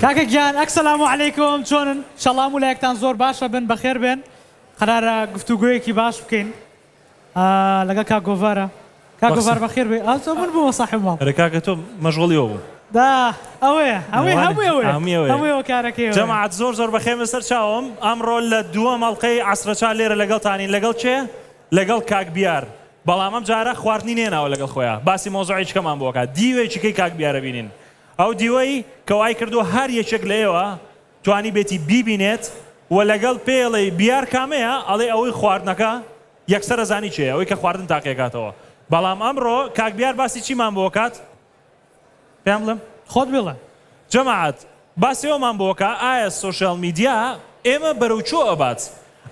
کاکە گیان ئەک سلام علیکم چۆنن شەڵا هەموو لایەکتان زۆر باشە بن بەخێر بێن قەرارە گفتوگۆیەکی باش بکەین لەگەڵ کاک گۆڤارا کاک گۆڤار بەخێر بێ ئاو چۆ من بوومە ساحێب ماڵ ئەرێ کاکە تۆ مەشغوڵی ئەوە بوو دا ئەوەیە ئەوەی هەمووی ئەوەیە هەمووی ئەوەیە هەمووی ئەوە کارەکەی ئەوەیە جەماعەت زۆر زۆر بەخێر بێ سەر چاوم ئەمڕۆ لە دووەم ئەڵقەی عەسرە چا لێرە لەگەڵتانین لەگەڵ کێ لەگەڵ کاک بیار بەڵام ئەم جارە خواردنی نێناوە لەگەڵ خۆیا باسی مەوزوعێکی کەمان بۆ کات دیوێکی کەی کاک بیارە بینین ئەو دیوەی کە وای کردووە هەر یەکێک لە ئێوە توانیبێتی بیبینێت و لەگەڵ پێی ئەڵێی بیار کامەیە ئەڵێی ئەوەی خواردنەکە یەکسەر ئەزانی کێیە ئەوەی کە خواردن تاقیەکاتەوە بەڵام ئەمڕۆ کاک بیار باسی چیمان بۆ کات پێیان بڵێم خۆت بڵێ جەماعەت باسی ئەومان بۆ کە ئایا سۆشیال میدیا ئێمە بەرەو چۆ ئەبات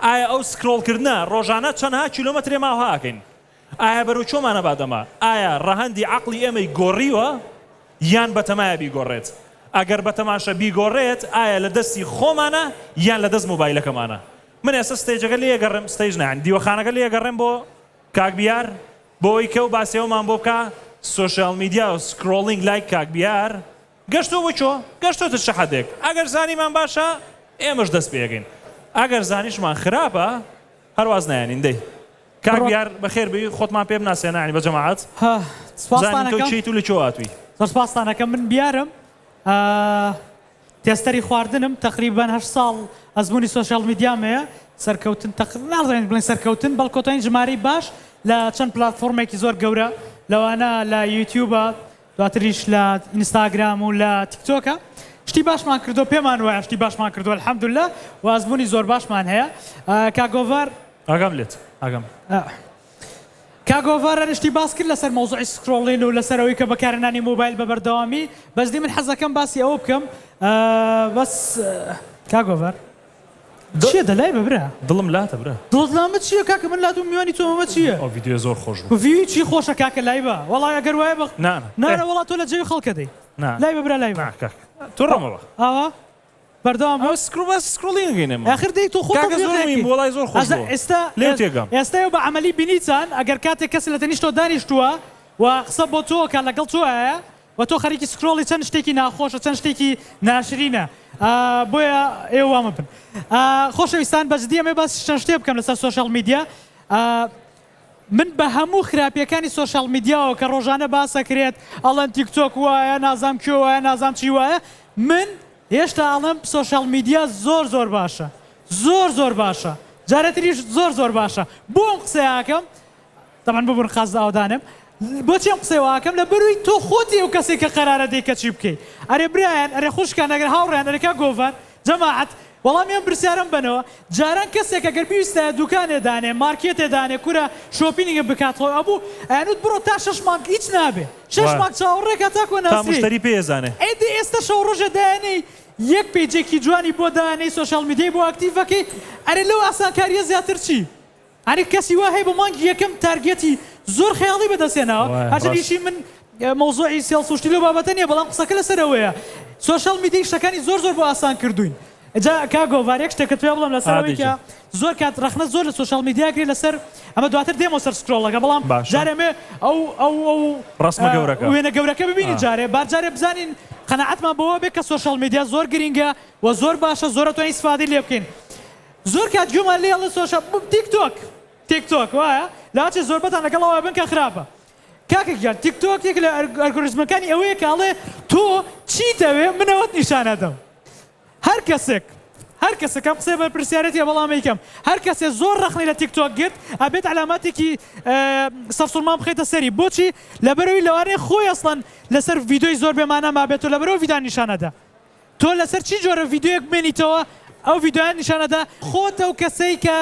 ئایا ئەو سکرۆڵ کردنە ڕۆژانە چەنها کیلۆمەترێ ماوها ئەکەین ئایا بەرەو چۆمانە بادەما؟ ئایا ڕەهەندی عەقڵی ئێمەی گۆڕیوە یان بەتەمایە بیگۆڕێت؟ ئەگەر بەتەماشە بیگۆڕێت ئایا لە دەستی خۆمانە یان لە دەست مۆبایلەکەمانە؟ من ئێستا ستەیجەکە لێیەگەڕێم، ستەیج نا یانی دیوەخانەکە لێیەگەڕێم بۆ کاک بیار بۆوەی کەو باسی ئەومان بۆ بکا سۆشیال میدیا و سکرۆڵینگ لای کاک بیار گەشتوە بۆ کۆ؟ گەشتۆتە چ حەدێک؟ ئەگەر زانیمان باشە ئێمەش دەست پێیەکەین ئەگەر زانیشمان خراپە هەر واز نایەنین دەی کاک بڕۆ. دیار بەخێر بێی خۆتمان پێ بناسێنە یانی بە جەماعەت ها سپاستان بزانین تۆ ئەکەم کێیت و لە کوێ هاتووی. زۆر سپاستان ئەکەم من بیارم ئا تێستەری خواردنم تەقریبەن هەشت ساڵ ئەزموونی سۆشیاڵ میدیام هەیە سەرکەوتن تەق نازانین بڵێین سەرکەوتن بەڵکۆتەین ژمارەی باش لە چەند پلاتفۆرمێکی زۆر گەورە لەوانە لە یوتیوبە دواتریش لە ئینستاگرام و لە تیکتۆکە شتی باشمان کردوە پێمان وایە شتی باشمان کردوە الحمداللە و ئەزمونی زۆر باشمان هەیە کاک گۆڤار ئاگام لێت ئاگام کاک گۆڤار هەر شتی باس کرد لەسەر مەوزوعی سکرۆڵین و لەسەر ئەوەی کە بەکارهێنانی مۆبایل بە بەردەوامی بەجدی من حەزەکەم باسی ئەوە بکەم بەس کاک گۆڤار چیە دەلای بە برا. دڵم لاتە برا. دڵتلامە چیە کاکە من لاتوم میوانی تۆم ئەمە چیە. ئەو ڤیدیۆیە زۆر خۆش بوو. ڤیوی چی خۆشە کاکە لای بە. وەڵای ئەگەر وایە بە. نا نا. نا نا وەڵا تۆ لە جەوی خەڵکە دەی. نا. لای بە برا لای بە. نا کاکە تۆ ڕامە بە. ئاوا بەردەوام بە. ئەوە سکرۆ باسی سکرۆڵینگ دەکەین ئێمە. ئاخر دەی تۆ خۆت تەطبیق نەکەی. کاکە زۆر موهیم بوو وەڵای زۆر خۆش بوو. ئێستا لێو تێگەم. ئێستا ئێوە بە عەمەلی بینیتان ئەگەر کاتێک کەسێ لە تەنیشت تۆ دانیشتووە و قسە بۆ تۆ ئەکا لەگەڵ تۆ ئایە وە تۆ خەریکی سکرۆڵی چەند شتێکی ناخۆش و چەند شتێکی ناشرینە ئا بۆیە ئێوە وا مەبن ئا خۆشەویستان بە جدی ئەمێ باس چەند شتێ بکەم لەسەر سۆشیاڵ میدیا ئا من بە هەموو خراپیەکانی سۆشیاڵ میدیاوە کە ڕۆژانە باسەکرێت ئەڵێن تیک تۆک وایە نازام کوێ وایە نازام چی وایە من هێشتا ئەڵێم سۆشیاڵ میدیا زۆر زۆر باشە زۆر زۆر باشە جارێتریش زۆر زۆر باشە بۆ ئەم قسەیە ئەکەم تەبعەن بۆ بنقاست ئاوەدانم بۆچی ئەم قسەی واکەم لە بەروی تۆ خۆتی ئەو کەسی کە قەرارە دەی کەچی بکەی ئەرێ برایان ئەرێ خوشکان ئەگەر هاوڕێیان ئەرێ کاک گۆڤار جەماعەت وەڵامی ئەم پرسیارەم بەنەوە جاران کەسێک ئەگەر بیویستایە دوکانێ دانێ مارکێتێ دانێ کورە شۆپینگێ بکات خۆ ئەبوو ئەیانوت بڕۆ تا شەش مانگ ئیچ نابێ شەش مانگ چاوەڕێ کە تاکۆ ناسرێی تا مشتەری پێ ئەزانێ ئەی دە ئێستا شەو ڕۆژێ دایەنێی یەک پەیجێکی جوانی بۆ دانێی سۆشیال میدیای بۆ ئەکتیڤ ئەکەی ئەرێ لەو ئاسانکاریە زیاتر چی. ئەرێ کەسی وا هەیە بۆ مانگی یەکەم تارگێتی زۆر خەیاڵی بەدەست هێناوە وایە هەرچەند ڕاست. ئیشی من مەوزوعی سێڵس و شتی لەو بابەتە نیە بەڵام قسەکە لەسەر ئەوەیە سۆشیاڵ میدیای شتەکانی زۆر زۆر بۆ ئاسان کردووین جا کاک گۆڤار یەک شتێکت پێ بڵێم لەسەر ئەوەی کە عادیجە. زۆر کات ڕەخنە زۆر لە سۆشیاڵ میدیا کرێ لەسەر ئەمە دواتر دێمەوە سەر سکرۆڵەکە بەڵام باشە. جارێ ئەمێ ئەو ئەو ئەو ڕەسمە گەورەکە. وێنە گەورەکە ببینین آه. جارێ با جارێ بزانین قەناعەتمان بەوە بێ کە سۆشیاڵ میدیا زۆر گرینگە و زۆر باشە زۆر ئەتوانین ئیسفادەی لێ بکەین زۆر کات گوێمان لێیە ڵە سۆشە تیک تۆک تیک تۆک وایە لاچێ زۆربەتان لەگەڵ ئەوە بن کە خراپە کاکە گیان تیک تۆک یەکێک لە ئەرگۆریزمەکانی ئەوەیە کە ئەڵێ تۆ چیت ئەوێ من ئەوەت نیشان ئەدەم هەر کەسێک هەر کەسێک ئەم قسەیە بەرپرسیارێتیە بەڵام ئەیکەم هەر کەسێ زۆر ڕەخنەی لە تیک تۆک گرت ئەبێت عەلاماتێکی سەرسوڕمان بخەیتە سەری بۆچی لەبەرئەوەی لەوانەیە خۆی ئەسڵەن لەسەر ڤیدۆی زۆر بێمانا مابێت و لەبەرئەوە ڤیدان نیشان ئەدا تۆ لەسەر چی جۆرە ڤیدیۆیەک بمێنیتەوە ئەو ڤیدیۆیان نیشان ئەدا. خۆت ئەو کەسەی کە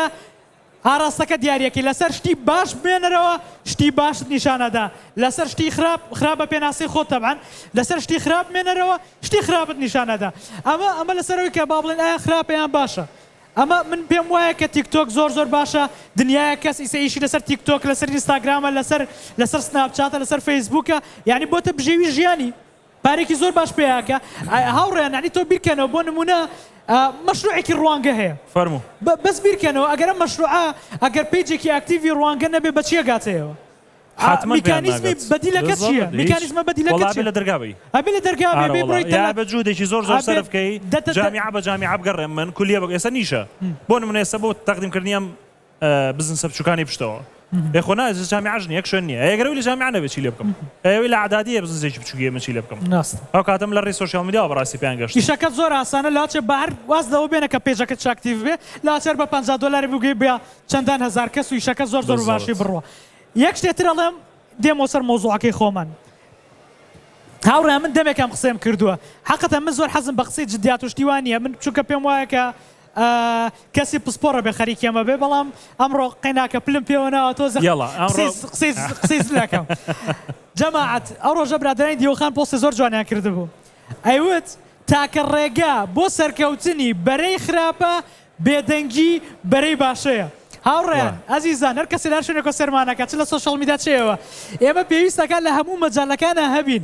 ئاراستەکە دیاریەکەی لەسەر شتی باش بمێنەرەوە شتی باشت نیشان ئەدا لەسەر شتی خراپ خراپ بە پێناسەی خۆت تەبعەن لەسەر شتی خراپ بمێنەرەوە شتی خراپت نیشان ئەدا ئەمە ئەمە لەسەر ئەوەی کە با بڵێن ئایا خراپە یان باشە ئەمە من پێم وایە کە تیک تۆک زۆر زۆر باشە دنیایەک کەس ئیسە ئیشی لەسەر تیک تۆک لەسەر ئینستاگرامە لەسەر لەسەر سناپ چاتە لەسەر فەیسبووکە یانی بۆتە بژێوی ژیانی پارەیەکی زۆر باش پێیاکە. هاوڕێیان یەعنی تۆ بیرکەنەوە بۆ نموونە مەشروعێکی ڕوانگە هەیە فەرموو. بەس بیرکەنەوە ئەگەر ئەم مەشروعە ئەگەر پەیجێکی ئاکتیڤی ڕوانگە نەبێ بەچی ئەگاتەیەوە؟ حاتمەن پێیان ناگات. میکانیزمی بەدیلەکە چییە؟ هیچ. میکانیزمە بەدیلەکە وەڵا ئەبێ چییە؟ لە دەرگا بی. ئەبێ لە دەرگا بێ ئارە بێ وەڵا بڕۆی یا تەلار. ئەبێ جوهدێکی زۆر زۆر ئەبێ سەرف کەی دە- دە- دە- جامیعە بە جامیعە بگەڕێم من کولیە بە ئێستا نیشە بۆ نموونە ئێستا بۆ تەقدیم کردنی ئەم بزنسە بچوکانی پشتەوە ئێ خۆ نا جامیعەش نیە یەک شوێن نیە ئەگەر ئەوی لە جامیعە نەبێ چی لێ بکەم ئەی ئەوی لە ئەعدادیە بزنسێکی بچوکیە من چی لێ بکەم ڕاستە ئەو کاتەم لە ڕێی سۆشیاڵ میدیاوە بەڕاستی پێیان گەشت. ئیشەکەت زۆر ئاسانە لە هەچێ بە هەر واز لەوە بێنە کە پەیجەکەت چ ئەکتیڤ بێ لە هەچێ هەر بە پەنجا دۆلاری بگوی بە چەندان هەزار کەس و ئیشەکە زۆر زۆر بە باشی بەزەڕت. بڕوا یەک شتێ تر ئەڵێم دێمەوە سەر مەوزوعەکەی خۆمان هاوڕێیان من دەمێکە ئەم قسەیەم کردوە حەقتە من زۆر حەزم بە قسەی جدیات و شتی وا نیە من چونکە پێم وایە کە ئە کەسی پسپۆڕە بێ خەریکی ئەمە بێ بەڵام ئەمڕۆ قەیناکە پلم پێوە ناوە تۆزێ یەڵا ئەمڕۆ قسەی قسەی قسەی زل ئەکەم جەماعەت ئەو ڕۆژە برادەرانی دیوەخان پۆستی زۆر جوانیان کردبوو ئەیوت تاکە ڕێگا بۆ سەرکەوتنی بەرەی خراپە بێدەنگی بەرەی باشەیە وا هاوڕێیان ئەزیزان هەر کەسێ لە هەر شوێنێکەوە سێرمانەکات چ لە سۆشیاڵ میدیا چ ئێوە ئێمە پێویستەکات لە هەموو مەجالەکانا هەبین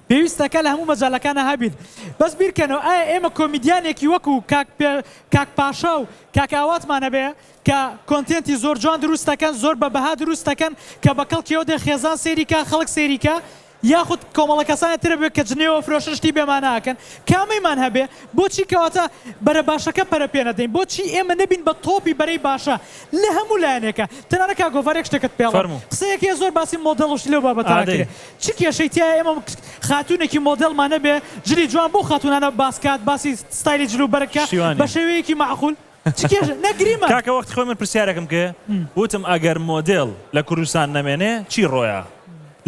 پێویستە کە لە هەموو مەجالەکانا هەبین بەس بیرکەنەوە ئایا ئێمە کۆمیدیانێکی وەکو کاک پێ کاک پاشا و کاک ئاواتمان هەبێ کە کۆنتێنتی زۆر جوان دروست دەکەن زۆر بە بەها دروست دەکەن کە بە کەڵکیەوە دێ خێزان سەیری کا خەڵک سەیری کا یاخود کۆمەڵە کەسانێ ترە بێ کە جنێوە فرۆشن شتی بێ مانا ئەکەن کامەیمان هەبێ بۆچی کەواتە بەرە باشەکە پەرە پێ نەدەین بۆچی ئێمە نەبین بە تۆپی بەرەی باشە لە هەموو لایەنێکا تەنانە کاک گۆڤار یەک شتێکت پێڵێم فەرموو. قسەیەک هەیە زۆر باسی مۆدێڵ و شتی لەو بابەتانا ئادەی. کرێ چ کێشەی تیایە ئێمە خاتوونێکی مۆدێلمان نەبێ جلی جوان بەو خاتوونانە باس کات باسی ستایلی جل و بەرگ کە بە شێوەیەکی مەعقول چ کێشە نە گریمان. کاکە وەخت خۆی من پرسیارێکم کێ وتم ئەگەر مۆدێل لە کوردستان نەمێنێ چی ڕۆیا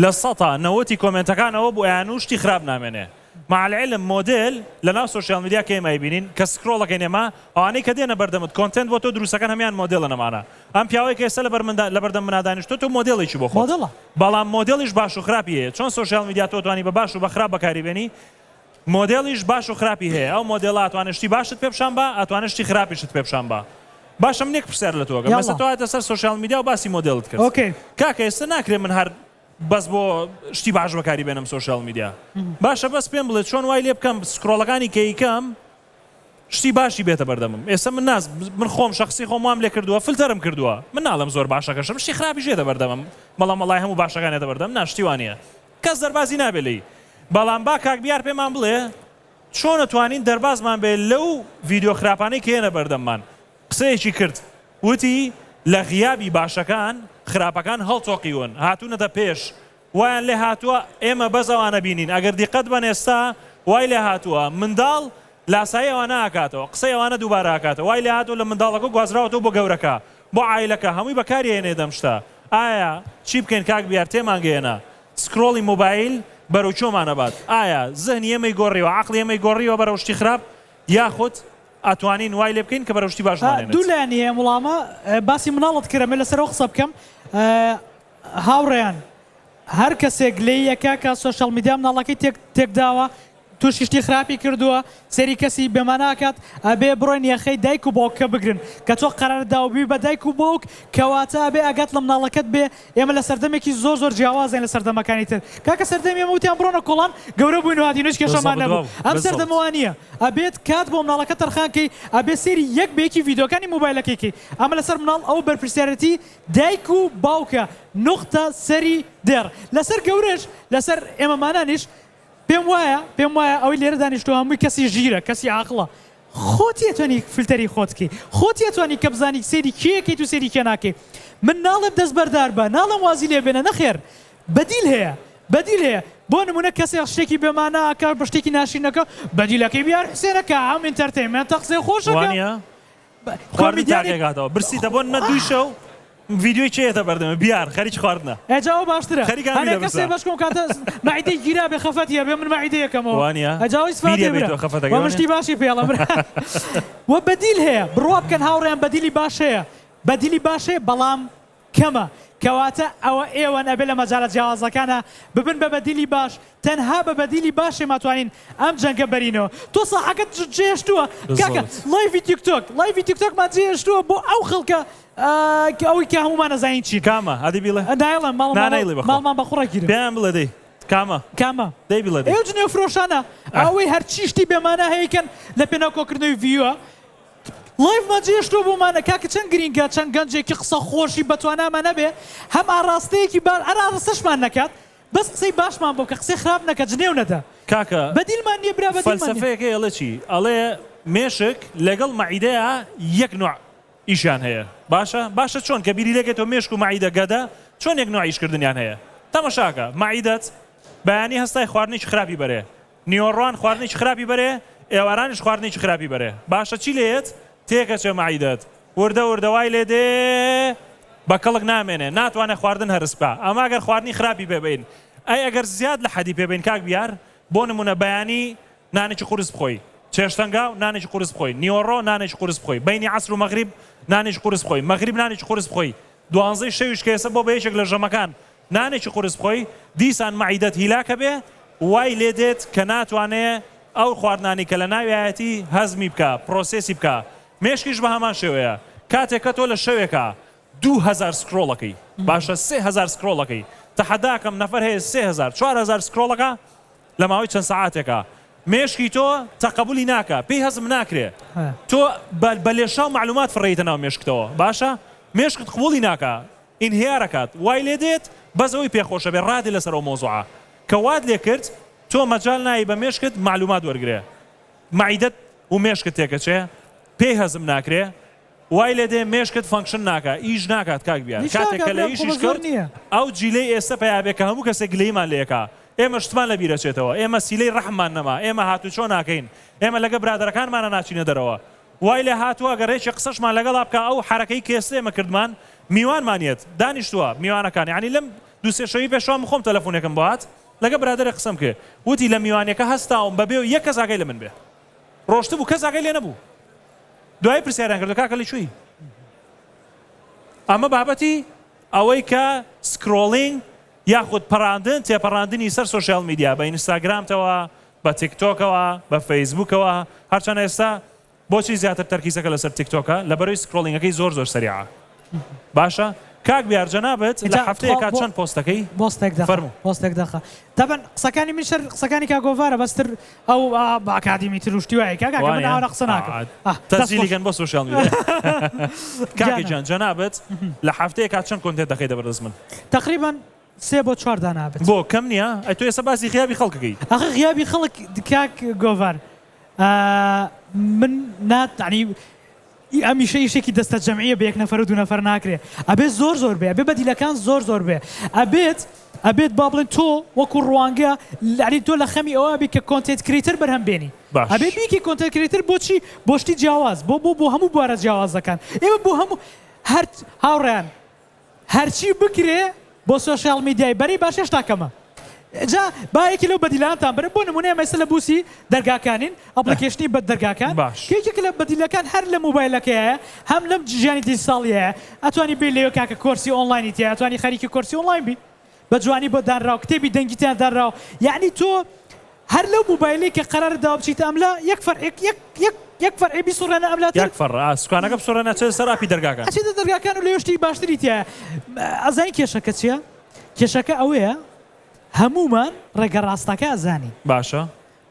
لە سەتا نەوەتی کۆمێنتەکان ئەوە بوو ئەیانوو شتی خراپ نامێنێ مع العلم مۆدێل لەناو سۆشیال میدیا کەیم ئەیبینین کە سکرۆڵ ئەکەین ئێمە ئەوانەی کە دێنە بەردەمت کۆنتێنت بۆ تۆ دروست ئەکەن هەمیان مۆدێلن ئەمانە ئەم پیاوەی کە ئێستا لەبەر مندا لەبەردەم منا دانیشتوە تۆ مۆدێلێکی بۆ خۆت مۆدڵە بەڵام مۆدێلیش باش و خراپی هەیە چۆن سۆشیال میدیا تۆ ئەتوانی بە باش و بە خراپ بەکاری بێنی مۆدێلیش باش و خراپی هەیە ئەو مۆدێلە ئەتوانێت شتی باشت پێ پیشان با ئەتوانێت شتی خراپیشت پێ پیشان با باشە من یەک پرسیار لە تۆ ئەکەم ئێستا یاڵڵا تۆ هاتە سەر سۆشیال میدیا و باسی مۆدێلت کرد ئۆکەی کاکە ئێستا ناکرێت من هەر بەس بۆ شتی باش بەکاری بێنم سۆشیال میدیا باشە بەس پێم بڵێ چۆن وای لێ بکەم سکرۆڵەکانی کەیکەم شتی باشی بێتە بەردەمم ئێستا من ناز من خۆم شخصی خۆم وام لێ کردووە فلتەرم کردووە من ناڵم زۆر باشەکەشم شی خراپی ژێتە بەردەمم بەڵام مەڵای هەموو باشەکانێتە بەردەم ناشتیوانە کەس دەربازی نابێ لی بەڵام با کاک بیار پێمان بڵێ چۆنە توانین دەربازمان بێ لەو ڤیددیو خراپانەی کێنە بەردەممان قسەیەکی کرد وتی، لە غیابی باشەکان، خراپەکان هەڵتۆقیون، هاتوونەتە پێش، وایان لێ هاتووە ئێمە بەس ئەوانە بینین، ئەگەر دیقەت بەن ئێستا وای لێ هاتووە منداڵ لاسایی ئەوانە ئەکاتەوە، قسەی ئەوانە دووبارە ئەکاتەوە، وای لێ هاتووە لە منداڵەکە گوازراوەتەوە بۆ گەورەکە، بۆ عایلەکە، هەمووی بەکاری ئەهێنێت ئەم شتە، ئایا چی بکەین کاک بیار تێمان گەیەنە، سکرۆڵی مۆبایل بەرەو کوێمان ئەبات، ئایا زهنی ئێمەی گۆڕیوە، عەقڵی ئێمەی گۆڕیوە بەرەو شتی خراپ، یاخود ئەتوانین وای لێ بکەین کە بەرەو شتی باش بمانێنێت. دوو لایەنی هەیە ئەم وڵامە. باسی مناڵت کرد ئەمەوێت لەسەرەوە قسە بکەم. هاوڕێیان هەر کەسێک لێی ئەکا کە سۆشیاڵ میدیا مناڵەکەی تێک تێک داوە توشی شتی خراپی کردووە سەیری کەسی بێ مانا ئەکات ئەبێ بڕۆن یەخەی دایک و باوکەکە بگرن کە تۆ قەرارت داوە ببی بە دایک و باوک کەواتە ئەبێ ئاگات لە مناڵەکەت بێ ئێمە لە سەردەمێکی زۆر زۆر جیاوازین لە سەردەمەکانی تر کاکە سەردەمی ئێمە وتیان بڕۆنە کۆڵان گەورە بووین و هاتین و هیچ کێشەمان نەبوو ئەم سەردەمە وا نییە ئەبێت کات بۆ مناڵەکە تەرخان کەی ئەبێت سەیری یەک بە یەکی ڤیدیۆکانی مۆبایلەکەی کەی ئەمە لەسەر مناڵ ئەوە بەرپرسیارێتی دایک و باوکە نوقتە سەری دێڕ لەسەر گەورەش لەسەر ئێمەمانانیش پێم وایە پێم وایە ئەوەی لێرە دانیشتوە هەمووی کەسی ژیرە کەسی عاقڵە خۆت یەتوانی فلتەری خۆت کەی خۆت یەتوانی کە بزانی سەیری کێیەکەیت و سەیری کێ ناکەی من ناڵێم دەست بەردار بە ناڵێم وازی لێ بێنە نەخێر بەدیل هەیە بەدیل هەیە بۆ نمونە کەسێک شتێکی بێ مانا ئەکا بە شتێکی ناشرین ئەکا بەدیلەکەی بیار حوسێنە کە ئەم ئینتەرتەیمێنتە قسەی خۆش ئەکا. وانیە؟ خواردن تاقیەک هاتەوە برسی دەبۆن نە دوی شەو ڤیدیۆی کێ یەتە بەردەمە بیار خەریکی خواردنە ئێجا ئەوە باشترە خەریک هەنێ هەمیلە کەسێ برسە بەش کۆم کاتە مەعیدەی گیرا بێ خەفەتی هەبێ من مەعیدەیە کەمەوە وانیە ئەجا ئەوەی سفاتێ بیریە بیت برا و خەفەتەکەی وە وانیە مشتی باشی پێڵە برا وە بەدیل هەیە بڕوا بکەن هاوڕێیان بەدیلی باش هەیە بەدیلی باش هەیە بەڵام کەمە، کەواتە ئەوە ئێوەن ئەبێ لە مەجالە جیاوازەکانا ببن بە بەدیلی باش، تەنها بە بەدیلی باشێ ماتوانین ئەم جەنگە بەرینەوە. تۆ ساحەکەت جێهێشتووە کاکە، لایڤی تیک تۆک، لایڤی تیک تۆکمان جێهێشتووە بۆ ئەو خەڵکە کە ئەوەی کە هەموومان ئەزانین چین. کامە؟ ئەدی بیڵێ. نایڵێم، ماڵمان بە قوڕە گیرن. پێیان بڵێ دەی کامە؟ کامە؟ دەی بیڵێ دەی. ئەو جنێوفرۆشانە ئەوەی هەرچی شتی بێمانا هەیە ئەیکەن لە پێناو کۆکردنەوەی ڤیوە. ڵایڤمان جێهێشتووە بۆمانە کاکە چەند گرینگە چەند گەنجێکی قسە خۆشی بەتوانامان هەبێ هەم ئاڕاستەیەکی با هەر ئاڕستەشمان نەکات بەس قسەی باشمان بۆ بکە قسەی خراپ نەکە جنێو نەدە کاکە بەدیلمان نیە برا بەدیلمان نیە. فەلسەفەیەکەی ئەڵێ چی ئەڵێ مێشک لەگەڵ مەعیدەیا یەک نوع ئیشیان هەیە باشە باشە چۆن کە بیری لێکەیتەوە مێشک و مەعیدە گەدە چۆن یەک نوع ئیش کردنیان هەیە تەمەشاکە مەعیدەت بەیانی هەستای خواردنێکی خراپی بەرێ نیۆڕۆان خواردنێکی خراپی بەرێ ئێوارانیش خواردنێکی خراپی بەرێ باشە چی لێیەت تێکەچێ مەعیدەت وردە وردە وای لێ دێ بە کەڵک نامێنێ ناتوانێ خواردن هەرس بکا ئەمە گەر خواردنی خراپی پێ بەین ئەی ئەگەر زیاد لە حەدی پێ بەین کاک بیار بۆ نمونە بەیانی نانێکی قورس بخۆی چێشتەنگاو نانێکی قورس بخۆی نیۆڕۆ نانێکی قورس بخۆی بەینی عەسر و مەغریب نانێکی قورس بخۆی مەغریب نانێکی قورس بخۆی دوانزەی شەویش کە ئێسە بۆ بە یەکێک لە ژەمەکان نانێکی قورس بخۆی دیسان مەعیدەت هیلاک ئەبێ وای لێ دێت کە ناتوانێ ئەو خواردنانەی کە لە ناویایەتی هەزمی بکا پرۆسێسی بکا مێشکیش بە هەمان شێوەیە کاتێک کە تۆ لە شەوێکا دوو هەزار سکرۆڵ ئەکەی باشە سێ هەزار سکرۆڵ ئەکەی تەحەدا ئەکەم نەفەر هەیە سێ هەزار چوار هەزار سکرۆڵ ئەکا لە ماوەی چەند سەعاتێکا مێشکی تۆ تەقەبولی ناکا پێی هەزم ناکرێ تۆ بە لێشاو مەعلومات فڕێیتە ناو مێشکتەوە باشە مێشکت قبوڵی ناکا ئینهیارەکات وای لێ دێت بەس ئەوی پێ خۆشە بێ ڕادێ لەسەر ئەو مەوزوعە کە وات لێ کرد تۆ مەجال نایی بە مێشکت مەعلومات وەرگرێ مەعیدەت و مێشکت تێکەچێ پێی هەزم ناکرێ وای لێ دێ مێشکت فەنکشن ناکا ئیش ناکات کاک بیار کاتێک کە لە ئیشیش کەوت ئەو جیلەی ئێستە پەیا بێ کە هەموو کەسێک گلەیمان لێ کا ئێمە شتمان لە بیرەچێتەوە ئێمە سیلەی ڕەحممان نەما ئێمە هاتوچۆ ناکەین ئێمە لەگە برادەرەکانمانە ناچینە دەرەوە وای لێ هاتوە گە رێکی قسەشمان لەگەڵا بکا ئەو حەرەکەی کەئێستە ئێمە کردمان میوانمان یەت دانیشتوە میوانەکان یانی لەم دوو سێ شەوی پێشوە من خۆم تەلەفونێکم بۆ هات لەگە برادەرێک قسەم کە وتی لە میوانیەکە هەستاوم بە بێ یەک کەس ئاگای لە من بێ رۆشتبو کەس ئاگای لێ نەبو دوای پرسیاریان کردو کاکە لە کوێی ئەمە بابەتی ئەوەی کە سکرۆلینگ یاخود پەراندن تێپەڕاندنی سەر سۆشیال میدیا بە ئینستاگرامتەوە بە تیک تۆکەوە بە فەیسبوکەوە هەرچەنە ئێستا بۆچی زیاتر تەرکیزەکە لەسەر تیک تۆکە لەبەرەوی سکرۆلینگەکەی زۆر زۆر سەریعە باشە کاک بیار جەنابت لە هەفتەیەکا چەند پۆست دەکەی بۆستێک دەخە فەرموو. بۆستێک دەخە دەبەن قسەکانی من شەر قسەکانی کاک گۆڤارە بەس تر ئەو ئا بە ئەکادیمی تر و شتی وایە کاکە کە من وانە ئاوا قسە ناکەم ئا ئا دەست تەسجیلی خۆش کەن بۆ سۆشیاڵ میدیا کاک جیانە. گیان جەنابت لە هەفتەیەکا چەند کۆنتێت دەخەیتە بەردەست من. تەقریبەن. سێ بۆ چوار دانا بێت. بۆ کەم نیە؟ ئەی تۆ ئێستا باسی غیابی خەڵک دەکەی. ئاخر غیابی خەڵک کاک گۆڤار من نا تەعنی ئەم ئیشە ئیشێکی دەستە جەمعیە بە یەک نەفەر و دوو نەفەر ناکرێ ئەبێ زۆر زۆر بێ ئەبێ بەدیلەکان زۆر زۆر بێ ئەبێت ئەبێت با بڵێن تۆ وەکو ڕوانگە لەعلی تۆ لە خەمی ئەوە بی کە کۆنتێت کریتەر بەرهەم بێنی باش ئەبێ بیکی کۆنتێت کریتەر بۆچی بۆشتی جیاواز بۆ بۆ بۆ هەموو بوارە جیاوازەکان ئێمە بۆ هەموو هەرت هاوڕیان هەرچی بکرێ بۆ سۆشیال میدیای بەری باش هێشتا کەمە جا با یەکی لەو بەدیلانتان برم بۆ نمونە ئێمە ئێستا لە بوسی دەرگاکانین ئەپڵیکەیشنی بە دەرگاکان باش. کە یەکێکە لە بەدیلەکان هەر لە موبایلەکەیایە هەم لەم ژیانی دیجیتاڵیەیە ئەتوانی بێی لەوێ کاکە کۆرسی ئۆنڵاینی تیایە ئەتوانی خەریکی کۆرسی ئۆنڵاین بی. بە جوانی بۆ دانراو کتێبی دەنگی تیا دانراو یەعنی تۆ هەر لەو موبایلەی کە قەرارە داوا بچیتە ئەم لا یەک فەرعێک یەک یەک یەک فەرعێ بیسوڕێنە ئەم لاتر یەک فەرع سوکانەکە بسوڕێنە چێتە سەر ئاپی دەرگاکان. ئەچێتە دەرگاکان و لەوێ شتی باشتری تیایە ئەزانی کێشەکە چیە کێشەکە ئەوەیە هەموومان ڕێگە ڕاستەکە ئەزانین باشە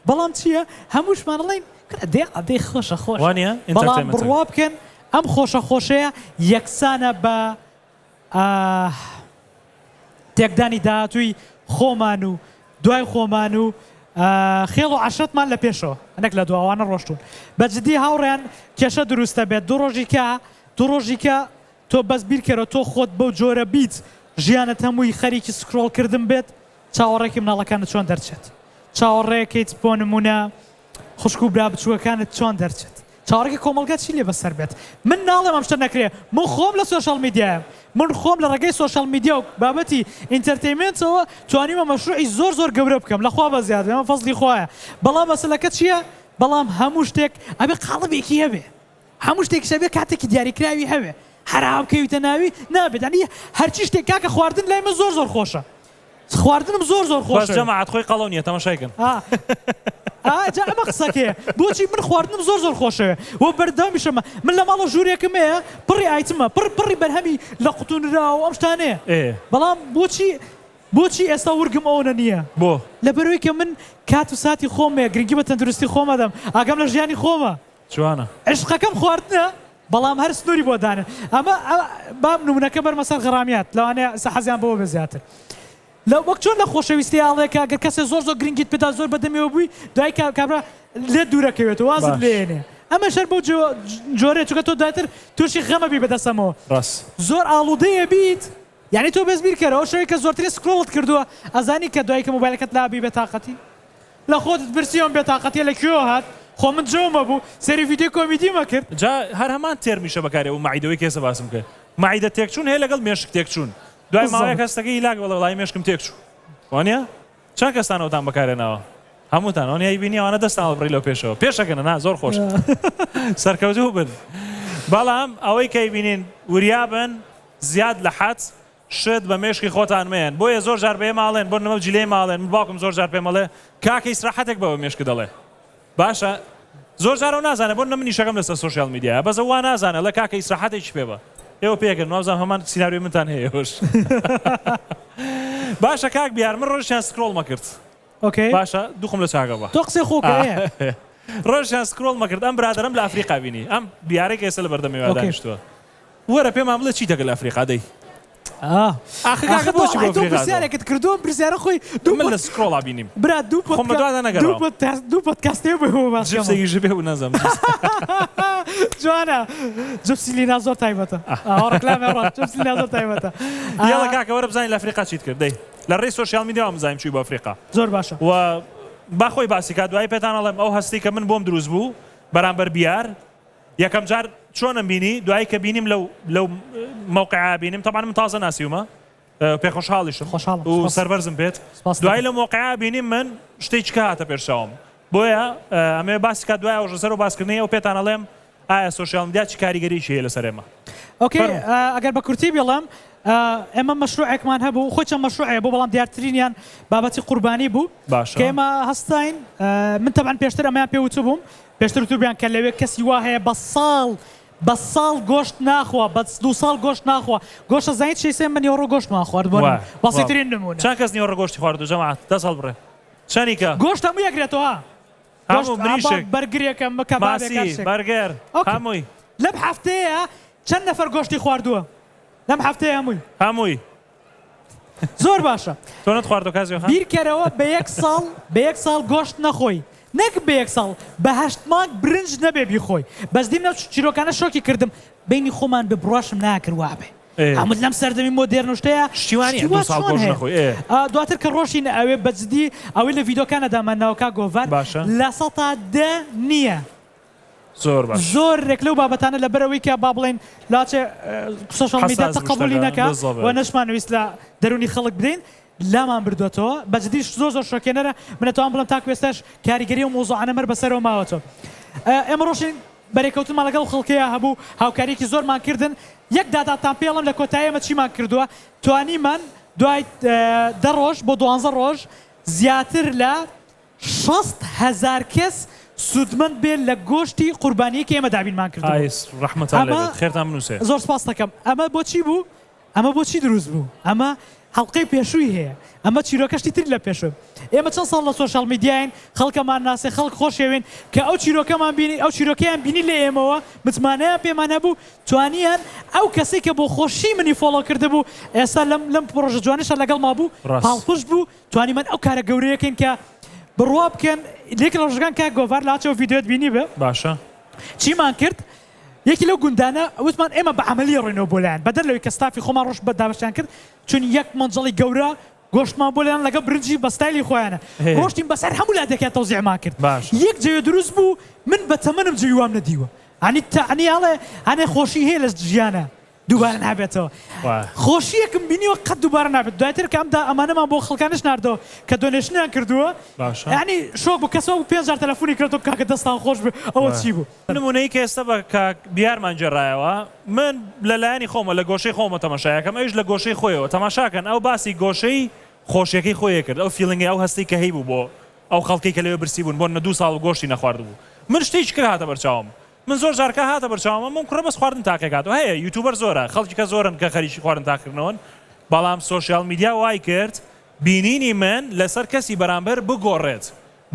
بەڵام چیە هەمووشمان ئەڵێین کورە دێ ئەدێ خۆشە خۆشە وانە بەڵام ئینتەرتێنمێنتەکە بڕوا بکەن ئەم خۆشە خۆشەیە یەکسانە بە ئاه تێکدانی داهاتووی خۆمان و دوای خۆمان و خێڵ و عەشرەتمان لە پێشەوە نەک لە دوا ئەوانە ڕۆشتوون بە جدی هاوڕێیان کێشە دروست دەبێت دوو ڕۆژی کە دوو ڕۆژی کە تۆ بەس بیرکەرەوە تۆ خۆت بەو جۆرە بیت ژیانت هەمووی خەریکی سکرۆڵکردن بێت چاوەڕێکەی مناڵەکانت چۆن دەرچێت چاوەڕێکەیت بۆ نموونە خوشک و برا بچوکەکانت چۆن دەرچێت چاوەڕێکی کۆمەڵگا چی لێ بەسەر بێت من ناڵێم ئەم شتە نەکرێ من خۆم لە سۆشیال میدیایەم من خۆم لە ڕێگەی سۆشیال میدیا و بابەتی ئینتەرتەیمێنتەوە توانیومە مەشروعی زۆر زۆر گەورە بکەم لە خوا بە زیاد بێ ئەمە فەزڵی خوایە بەڵام مەسەلەکە چیە بەڵام هەموو شتێک ئەبێ قاڵبێکی هەبێ. هەموو شتێکیش ئەبێ کاتێکی دیاریکراوی هەبێ هەرا بکەویتە ناوی نابێت یانی هەرچی شتێک کاکە خواردن لای من زۆر زۆر خۆشە خواردنم زۆر زۆر خۆش بەس جەماعەت خۆی قەڵەو نییە تەماشای کەن ئا ئا جا ئەمە قسەکەیە بۆچی من خواردنم زۆر زۆر خۆشەوێ و بەردەوامیشەمە من لە ماڵەوە ژوورێکم هەیە پڕی ئایتمە پڕ پڕی بەرهەمی لە قوتونرا و ئەم شتانەیە ئێ بەڵام بۆچی بۆچی ئێستا ورگم ئەوەنە نییە بۆ لەبەرەوەی کە من کات و ساتی خۆم هەیە گرنگی بە تەندروستی خۆم ئەدەم ئاگام لە ژیانی خۆمە جوانە. عیشقەکەم خواردنە بەڵام هەر سنوری بۆ دانێ ئەمە با نمونەکە بەرمە سەر غەرامیات لەوانەیە ئیستا حەزیان بەوە بێ زیاتر لە وەک چۆن لە خۆشەویستی ئاڵێ کە گەر کەسێ زۆر زۆر گرنگیت پێدا زۆر بەدەمیەوە بووی دوای کە کابرا لێت دوورەکەوێت و وازت باش. لێنێ ئەمەش هەر بەو جۆ جۆرەیە چونکە تۆ دواتر توشی غەمەبی بەدەسەمەوە ڕاست. زۆر ئاڵودەی ئەبیت یەعنی تۆ بەس بیر کەرە ئەو شەوەی کە زۆرترین سکرۆڵت کردووە ئەزانی کە دوایی کە مۆبایلەکەت لا بی بێتاقەتی لە خۆتت پرسی ئەم بێتاقەتیە لە کوێوە هات خۆ من جەومە بوو سەیری ڤیدیۆی کۆمیدیم ئەکرد. جا هەر هەمان تێرمیشە بەکاری ئەوە مەعیدەوەی کێسە باسم کرد مەعیدە تێکچوون هەیە لەگەڵ مێشک تێکچوون دوای ماوەیەک هەستەکەی هیلاک بەڵێ وەڵایی مێشکم تێکچوو وانیە؟ چەند کەستان ئەوتان بەکارهێناوە؟ هەمووتان ئەونیای بینی ئەوانە دەستان هەڵبڕی لەو پێشەوە پێشەکەنە نا زۆر خۆش سەرکەوتوو بن بەڵام ئەوەی کەی بینین وریابن زیاد لە حەد شت بە مێشکی خۆتان مێن بۆیە زۆر جار بەێ ماڵێن بۆ نمەو جلەی ماڵێن باوکم زۆر جار پێمەڵێ کاکە ئیسراحەتێک بەوە مێشک دەڵێ باشە زۆر جارەو نازانە بۆ نە منیشەکەم لەسەر سۆشیال میدیایە بەس ئەو وانازانە لە کاکە ئیسراحەتێکی پێ بە ئێوە پێکەن وابزانم هەمان سیناریۆی منتان هەیە ئێوەش باشە کاک بیار من ڕۆژیان سکرۆڵ مەکرد ئۆکەی باشە دوخم لە چاگە بە تۆ قسەی خۆکەیە ڕۆژیان سکرۆڵ مەکرد ئەم برادەرم لە ئەفریقا بینی ئەم بیارێک ئێستا لە بەردەم ئێوە ئۆکەی. دانیشتووە وەرە پێمان بڵێ چیتە گەل ئەفریقا دەی ئاخ کاکە بۆچی بۆ ئەفریقا تۆ پرسیارێکت کردووە ئەم پرسیارە خۆی دوو من لە سکرۆڵا بینیم برا دوو پۆت خۆم بە دوادا نەگەڕام دوو پۆدکاستێ بۆ ئێوە باس کەم جبسێکی ژبێ و نەزەم جوانە جبسی لینا زۆر تایبەتە ئەوە ڕێکلامێ ڕاست جبسی لینا زۆر تایبەتە یاڵە کاکە وەرە بزانین لە ئەفریقا چیت کرد دەی لە ڕێی سۆشیال میدیا وام بزانین چووی بۆ ئەفریقا زۆر باشە و با خۆی باسی کات دوایی پێتان ئەڵێم ئەو هەستی کە من بۆم دروست بوو بەرامبەر بیار یەکەم جار چۆنم بینی دوایی کە بینیم لەو لەو موقعا بینیم طبعا من تازە ناسیومە پێ خۆشحاڵیشم خۆشحاڵم و سپاس. سەربەرزم بێت سپاس دوایی لەکەم. لە موقعا بینیم من شتێک چکە هاتە پێش چاوم بۆیە ئەمەوێ باسی کات دوای ئەوژە سەر و باسکردنی ئەو پێتان ئەڵێم ئایا سۆشیال میدیا چ کاریگەریی هەیە لەسەر ئێمە ئۆکەی فەرموو. ئا ئەگەر بە کورتی بیڵێم ئا ئێمە مەشروعێکمان هەبوو خۆی چەند مەشروعێ هەبوو بەڵام دیارترینیان بابەتی قوربانی بوو باشە. کە ئێمە هەستاین ئا من تەبعەن پێشتر ئەمەیان پێ وتبووم پێشتر وتبوویان کە لەوێ کەسی وا هەیە بە ساڵ بە ساڵ گۆشت ناخوا بە دوو ساڵ گۆشت ناخوا گۆشت ئەزانیت چیە سێ من نیوەڕۆ گۆشتمان خوارد بۆ نان بەسیترین نموونە چەند کەس نیوەڕۆ گۆشتی خواردووە جەماعەت دەست هەڵبڕێ چەنی کە گۆشت هەمووی ئەکرێتەوە هەموو گۆشت مریشک ئابا بەرگرێکە مکە بابێکە هەر ماسی شتێک بەرگەر ئۆکێ. هەمووی لەم هەفتەیە چەند نەفەر گۆشتی خواردووە لەم هەفتەیە هەمووی هەمووی زۆر باشە تۆنت خواردۆ کاک زوێخان. بیرکەرەوە بە یەک ساڵ بە یەک ساڵ گۆشت نەخۆی نەک بە یەک ساڵ بە هەشت مانگ برنج نەبێ بیخۆی بەس دیم نەو چیرۆکانە شۆکی کردم بەینی خۆمان بێ بڕواشم ناکرد وابێ ئەمن لەم سەردەمی مۆدێرن و شتەیا شتی وا نیە دوو ساڵ گۆشت نەخۆی ئێ. دواتر کە ڕۆشتین ئەوێ بەجدی ئەوەی لە ڤیدۆکانە دامانناوە کاک گۆڤار باشە. لە سەتا دە نیە زۆر باش. زۆر رێک لەو بابەتانە لە بەرەوەی کە با بڵێین لاچێ سۆشیال میدیا حەساس تەقەبولی وشتەکە نەکا بزەبەت. و نەشمانویست لە دەرونی خەڵک بدەین لامان بردۆتەوە بە جدی زۆر زۆر شۆکێنەرە من ئەتوام بڵێم تاکو ئێستاش کاریگەری ئەو مەوزوعانە مەر بەسەرەوە ماوەتەوە ئێمە رۆشتین بەرێکەوتنمان لەگەڵ ئەو خەڵکەیا هەبوو هاوکاریەکی زۆرمان کردن یەک داداتان پێ ئەڵێم لە کۆتایی ئێمە چیمان کردوە توانیمان دوای دە رۆژ بۆ دوانزە رۆژ زیاتر لە شەست هەزار کەس سوودمەند بێت لە گۆشتی قوربانیەی کە ئێمە دابینمان کردبوو. ئایس ڕەحمەتان لێ بێت خێرتان بنووسێ. زۆر سپاستەکەم. ئەمە بۆ چی بوو؟ ئەمە بۆ چی دروست بوو؟ ئەمە هەڵقەی پێشووی هەیە. ئەمە چیرۆکە شتی تری لە پێشووە. ئێمە چەند ساڵ لە سۆشیال میدیاین، خەڵکەمان ناسێ، خەڵک خۆشیەوێین، کە ئەو چیرۆکەمان بینی، ئەو چیرۆکەیان بینی لە ئێمەوە، متمانەیان پێمان هەبوو، توانیان ئەو کەسەی کە بۆ خۆشی منی فۆڵۆ کردبوو، ئێستا لەم لەم پڕۆژە جوانەشە لەگەڵما بوو، پاڵپشت بوو، توانیمان ئەو کارە گەورەیە کەین کە بڕوا بکەن لەیەکی لە ڕۆژەکان کاک گۆڤار لاچ ئەو ڤیدیۆت بینیبێ باشە. چیمان کرد یەکی لەو گوندانە وتمان ئێمە بە عەمەلی ئەڕۆینەوە بۆ لایان بەدەر لەوەی کە ستافی خۆمان ڕۆشت بە دابەشیان کرد چوین یەک مەنجەڵی گەورە گۆشتمان بۆ لێنان لەگەڵ برنجی بە ستایلی خۆیانە ڕۆشتین بەسەر هەموو لادێکیان تەوزیعمان کرد یەک جەوێ دروست بوو من بە تەمەنم جەوی وام نەدیوە ئەنی تەعنی ئەڵێ ئەنێ خۆشی هەیە لە ژیانا دووبارە نابێتەوە خۆشیەکم بینیوە قەت دووبارە نابێت دواتر کە ئەمدا ئەمانەمان بۆ خەڵکانش ناردەوە کە دۆنێشنیان کردووە ینی شۆک بوو کەسەوە بوو پێنجار تەلەفۆنی کردەوە کاکە دەستان خۆش بێت ئەوە چی بوو نمونەی کە ئێستا بە کاک بیارمان گێڕایەوە من لە لایەنی خۆمە لە گۆشەی خۆمە تەماشایەکەم ئەویش لە گۆشەی خۆیەوە تەماشاکەن ئەو باسی گۆشەی خۆشیەکەی خۆیە کرد ئەو فیلنگی ئەو هەستی کە هەیبوو بۆ ئەو خەڵکی کە لەوێ برسی بوون بۆ نە دوو ساڵ گۆشتی نەخواردبوو من شتێکی کرد هاتە بەرچاوم من زۆر جار کە هاتە بەرچاوم ئەم ئەم کوڕە بەس خواردن تاقی ئەکات و هەیە یوتوبەر زۆرە خەڵکی کە زۆرن کە خەریکی خواردن تاقیکردنەوەن بەڵام سۆشیال میدیا وای کرد بینینی من لەسەر کەسی بەرامبەر بگۆڕێت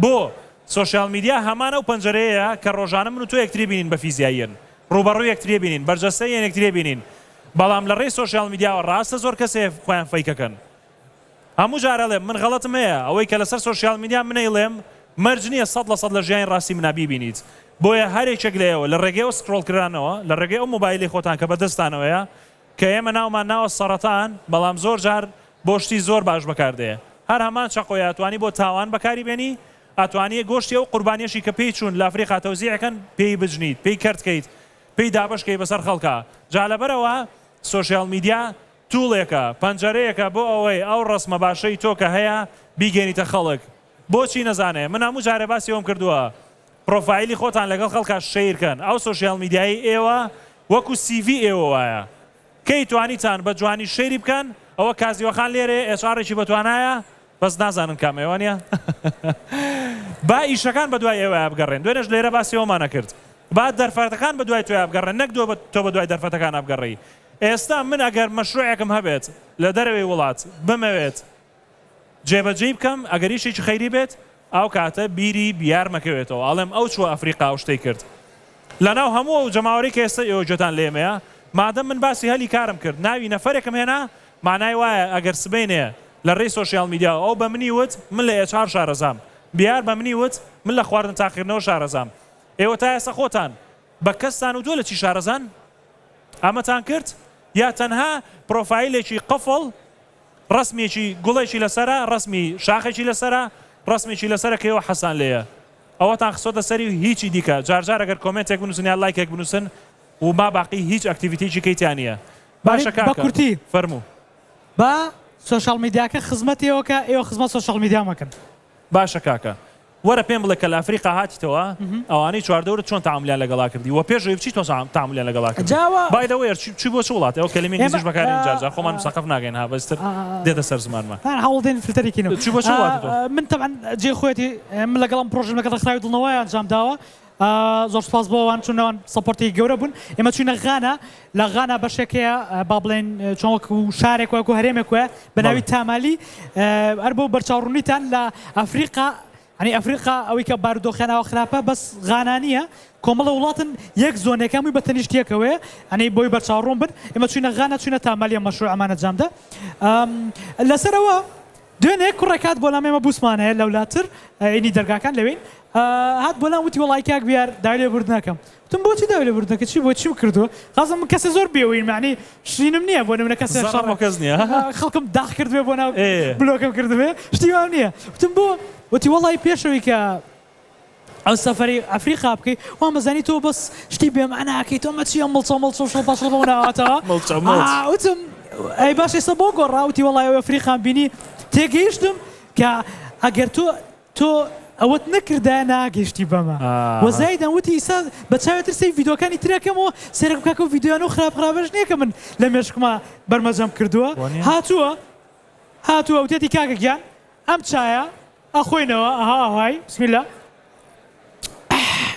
بۆ سۆشیال میدیا هەمان ئەو پەنجەرەیە کە ڕۆژانە من و تۆ یەکتری بینین بە فیزیاییەن ڕووبەڕووی یەکتری بینین بەرجەستەی یەکتری بینین بەڵام لە ڕێی سۆشیال میدیاوە ڕاستە زۆر کەسێ خۆیان فەیکەکەن هەموو جار ئەلێم من غەڵەتم هەیە ئەوەی کە لەسەر سۆشیال میدیا من ئەیڵێم مەرج نیە سەد لە سەد لە ژیانی ڕاستی منا بیبینیت بۆیە هەر یەکێک لە ئێوە لە ڕێگەی ئەو سکرۆڵ کرانەوە لە ڕێگەی ئەو مۆبایلی خۆتان کە بە دەستتانەوەیە کە ئێمە ناومان ناوە سەڕەتان بەڵام زۆر جار بۆ شتی زۆر باش بەکار دێ هەر هەمان چەقۆیە ئەتوانی بۆ تاوان بەکاری بێنی ئەتوانیە گۆشتی ئەو قوربانیەشی کە پێی چوون لە ئەفریقا تەوزیع کەن پێی بجنیت پێی کەرت کەیت پێی دابەش کەی بەسەر خەڵکا جا لەبەرئەوە سۆشیال میدیا توڵێکە، پەنجەرەیەکە بۆ ئەوەی ئەو ڕەسمە باشەی تۆ کە هەیە بیگەینیتە خەڵک. بۆچی نەزانێ؟ من هەموو جارێ باسی ئەوەم کردووە پڕۆفایلی خۆتان لەگەڵ خەڵکا شەیر کەن. ئەو سۆشیال میدیایەی ئێوە وەکو سیڤی ئێوە وایە. کەی توانیتان بە جوانی شەیری بکەن؟ ئەوە کازیوەخان لێرەیە ئێچ ئاڕێکی بە توانایە بەس نازانن کام ئێوە نیە. با ئیشەکان بە دوای ئێوەیا بگەڕێن. دوێنێش لێرە باسی ئەوەمان ئەکرد. با دەرفەتەکان بە دوای تۆیا بگەڕێن نەک تۆ بە دوای دەرفەتەکانا بگەڕێی. ئێستا من ئەگەر مەشروعێکم هەبێت لە دەرەوەی وڵات بمەوێت جێبەجێی بکەم ئەگەریشێکی خەیری بێت ئەو کاتە بیری بیارمەکەوێتەوە ئەڵێم ئەو چوە ئەفریقا و شتەی کرد لەناو هەموو ئەو جەماوەرەی کە ئێستا ئێوە گوێتان لێمەیە مادەم من باسی هەلی کارم کرد ناوی نەفەرێکم هێنا مانای وایە ئەگەر سبەینێ لە ڕێی سۆشیال میدیا و ئەو بە منی وت من لە ئێچ ئار شارەزام بیار بە منی وت من لە خواردن تاقیکردنەوە شارەزام ئێوە تا ئێستا خۆتان بە کەستان و تۆ لە چی شارەزان ئامەتان کرد؟ یا تەنها پرۆفایلێکی قفڵ ڕەسمێکی گوڵێکی لەسەرە ڕەسمی شاخێکی لەسەرە ڕەسمێکی لەسەرە کەیوە حەزتان لێیە ئەوەتان خستۆتە سەری و هیچی دیکە جار جار ئەگەر کۆمێنتێک بنوسن یان لایکێک بنوسن و ما باقی هیچ ئەکتیڤیتیکی کەی تیا نییە باشە کاکە بە کورتی فەرموو با سۆشیال میدیاکە خزمەت ئێوەکە ئێوە خزمەت سۆشیال میدیا مەکەن. باشە کاکە وەرە پێم بڵێ کە لە ئەفریقا هاتیتەوە ئەوانەی چواردەورت چۆن تەعامولیان لەگەڵا کردی وە پێش ئەوەی بچی چۆن تەعامولیان لەگەڵا کردی بای دە وەیەر چی بۆ چ وڵاتێ ئەو کەلیمەی ئینگلیزیش بەکارێنین جار جار خۆمان مسەقەف ناکەین ها بەستر دێتە سەر زمانمان تەنها هەوڵ دەین فلتەری کەینەوە چی بۆ چ وڵاتێ تۆ من تەبعەن جێ خۆیەتی من لەگەڵ ئەم پرۆژەم لەگەڵ ڕێکخراوی دڵنەوای ئەنجام داوە زۆر سوپاس بۆ ئەوان چون ئەوان سەپۆرتی گەورە بوون ئێمە چوینە غانا لە غانا بەشێک هەیە با بڵێن چۆن وەک و شارێک وەک و هەرێمێک وە بە ناوی تامالی هەر بۆ بەرچاوڕوونیتان لە ئەفریقا ئەنی ئەفریقا ئەوەی کە بارودۆخیانەوە خراپە بەس غانانیە کۆمەڵە وڵاتن یەک زۆنەکەمی بە تەنیشتیەکەوەیە ئەنی بۆی بەرچاوڕوون بن ئێمە چوینە غانا چوینە تامالیە مەشروع ئەمانە جامدە لەسەرەوە دوێنێ کوڕێک هات بۆلام ئێمە بوسمان هەیە لەولاتر ینی دەرگاکان لەوێین هات بۆلام وتی وەڵای کاک بیار داوای لێبوردنەکەم وتم بۆچی داوای لێبوردنەکە چی بۆ چیم کردووە قازم من کەسێ زۆر بێوین معنی شرینم نییە بۆ نمونە کەسێ زەڕەم بۆ کەس نییە خەڵکم داخ کردبێ بۆ ناو ئێ بلۆکم کردبێ شتی وام نییە وتم بۆ وتی وەڵای پێشەوەی کە ئەو سەفەری ئەفریقا بکەی وامەزانی تۆ بەس شتی بێ مەعنا ئەکەی تۆ مەچی ئەم مڵچە مڵچ و شڵپەشڵ بەو ناوەتەوە مڵچە مڵچ ئا وتم ئەی باش ئێستا بۆ گۆڕا وتی وەڵای ئەو ئەفریقام بینی تێگەیشتم کە ئەگەر تۆ تۆ ئەوەت نەکردایە ناگەیشتی بەمە ئا وە زایدان وتی ئیستا بە چاوێ تر سەی ڤیدۆکانی تر ئەکەمەوە سەیرەکم کاکە ئەو ڤیدۆیانە و خراپ خراپەش نییە کە من لە مێشکما بەرمەجەم کردووە وەنیە هاتووە هاتووە وتێتی کاکە گیان ئەم چایە ئەخۆینەوە ئەها ئەهای بسم اللە ئەح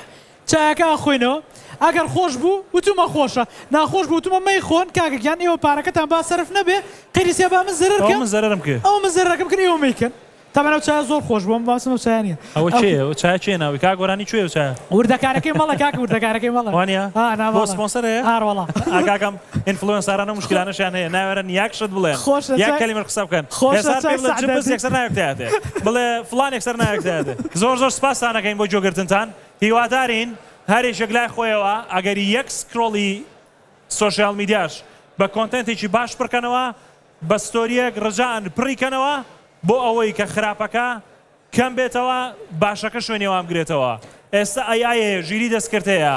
چایەکە ئەخۆینەوە ئەگەر خۆش بوو وتومە خۆشە ناخۆش بوو وتومە مەیخۆن کاکە گیان ئێوە پارەکەتان با سەرف نەبێ قەیری سیا با من زەرەر کەم ئەوە من زەرەرم کرد ئەوە من زەرەرەکەم کرد ئێوە مەیکەن تەبەن ئەو چایە زۆر خۆش بوو ئەم باسم ئەو چایە نییە ئەوە کێیە ئەو چایە کێ ناوی کاک گۆرانی کوێ ئەو چایە وردەکارەکەی مەڵە کاکە وردەکارەکەی مەڵە وانە؟ ها ناوە بۆ سپۆنسەر هەیە؟ ئاڕ وەڵا ئا کاکەم ئینفلوێنساران ئەو مشکلانەشیان هەیە ناوێرن یەک شت بڵێن خۆشە یەک چای کەلیمەش قسە بکەن خۆشە هێسار پێ چای بڵێ جبس سەعدەدی یەکسەر ناوێک تیایەتێ بڵێ فڵان یەکسەر ناوێک تیایەتێ زۆر زۆر سپاستان ئەکەین بۆ گوێگرتنتان هیوادارین هەر یەکێک لای خۆیەوە ئەگەری یەک سکرۆڵی سۆشیال میدیاش بە کۆنتێنتێکی باش پڕکەنەوە بە ستۆریەک ڕجائەن پڕی کەنەوە بۆ ئەوەی کە خراپەکە کەم بێتەوە باشەکە شوێنی ئەوان بگرێتەوە ئێستا ئەی ئای هەیە ژیری دەستکرد هەیە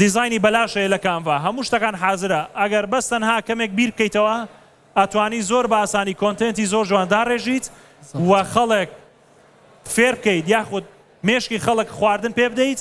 دیزاینی بەلاش هەیە لە کانڤا هەموو شتەکان حازرە ئەگەر بەس تەنها کەمێک بیر بکەیتەوە ئەتوانی زۆر بە ئاسانی کۆنتێنتی زۆر جوان داڕێژیت و خەڵک فێر بکەیت یاخود مێشکی خەڵک خواردن پێ بدەیت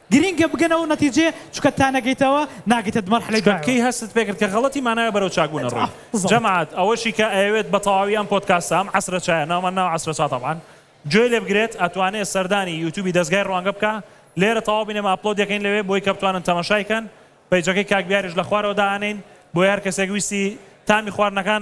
گرینگە بگەنە ئەو نەتیجەیە چونکە تا نەگەیتەوە ناگەیتە دمەرحەلەی دوایەوە. کەی هەستت پێکرد کە غەڵەتی ماناوێ بەرەو چاک بوونە ڕووی؟ جەماعەت ئەوەشی کە ئەیەوێت بە تەواوی ئەم پۆدکاستە ئەم عەسرە چایە ناومان ناوە عەسرە چا تەبعەن گوێی لێ بگرێت ئەتوانێت سەردانی یوتوبی دەزگای ڕوانگە بکا لێرە تەواو بینەر ئەپلۆد دەکەین لەوێ بۆی کە بتوانن تەماشای کەن پەیجەکەی کاک بیاریش لە خوارەوە دائەنێین بۆی هەر کەسێک ویستی تامی خواردنەکان